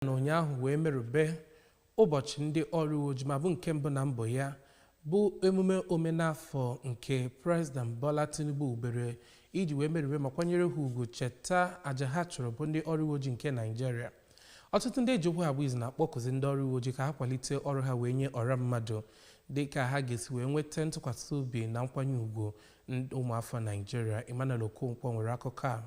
na ụnyaahụ wee merube ụbọchị ndị ọrụ uwe ojii ma bụ nke mbụ na mbụ ya bụ emume omenafọ nke President Bola Tinubu wubere iji wee merube ma kwanyere ha ugwu cheta aja ha chụrụ bụ ndị ọrụ uwe ojii nke Naịjirịa ọtụtụ ndị e ji okwu ha agba izu na-akpọkụzi ndị ọrụ uwe ojii ka ha kwalite ọrụ ha wee nye ọra mmadụ dị ka ha ga-esi wee nweta ntụkwasị obi na nkwanye ugwu ụmụafọ Naịjirịa Emmanuel Okonkwo nwere akụkọ a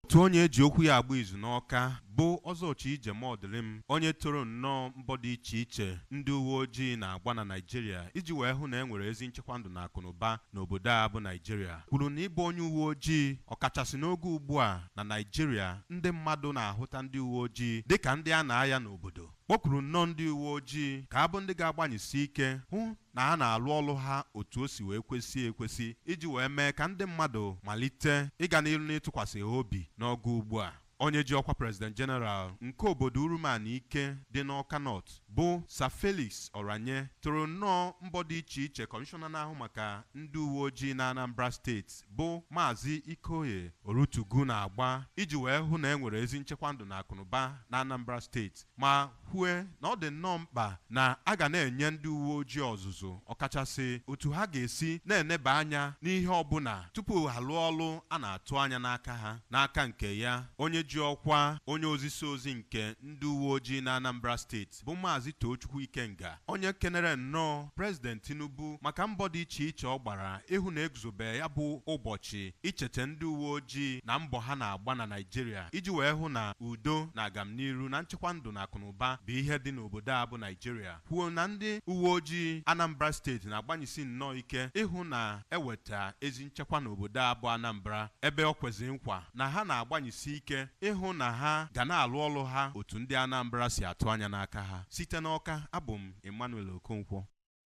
Otu onye e ji okwu ya agba izu n'Awka bụ Ọzọ Chije Mọdịlịm, onye toro nnọọ mbọ dị iche iche ndị uweojii na-agba na Naịjirịa iji wee hụ na e nwere ezi nchekwa ndụ na akụnụba n'obodo a bụ Naịjirịa, kwuru na ịbụ onye uweojii, ọkachasị n'oge ugbua na Naịjirịa ndị mmadụ na-ahụta ndị uweojii dịka ndị a na-aya n'obodo, kpọkuru nnọọ ndị uweojii ka a bụ ndị ga-agbanyesi ike hụ na ha na-alụ ọlụ ha otu o si wee kwesị ekwesị iji wee mee ka ndị mmadụ malite ịga n'iru n'ịtụkwasị ha obi n'oge ugbu a. Onye ji ọkwa President General nke obodo Urum Anaike dị n'Awka North bụ Sir Felix Oranye toro nnọọ mbọ dị iche iche Kọmishọna na-ahụ maka ndị uweojii n'Anambra steeti bụ Maazị Ikioye Orutugu na-agba iji wee hụ na e nwere ezi nchekwa ndụ na akụnụba n'Anambra steeti. ma kwue na ọ dị nnọọ mkpa na a ga na-enye ndị uwe ojii ọzụzụ ọkachasị otu ha ga-esi na-eneba anya n'ihe ọbụla tupu ha lụọ ọlụ a na-atụ anya n'aka ha n'aka nke ya onye ji ọkwa onye ozisa ozi nke ndị uwe ojii na Anambra steeti bụ Maazị Tochukwu Ikenga Onye kenere nnọọ President Tinubu maka mbọ dị icheiche ọ gbara ịhụ na e guzobe ya bụ ụbọchị ichete ndị uweojii na mbọ ha na-agba na Naịjirịa iji wee hụ na udo na agamniru na nchekwa ndụ na akụnụba bụ ihe dị n'obodo a bụ Naịjirịa, kwuo na ndị uweojii Anambra steeti na-agbanyisi nnọọ ike ịhụ na e weta ezi nchekwa n'obodo a bụ Anambra ebe o kwezi nkwa na ha na-agbanyisi ike ịhụ na ha ga na-alụ ọlụ ha otu ndị Anambra si atụ anya n'aka ha. Site n'Awka, abụ m Emmanuel Okonkwo.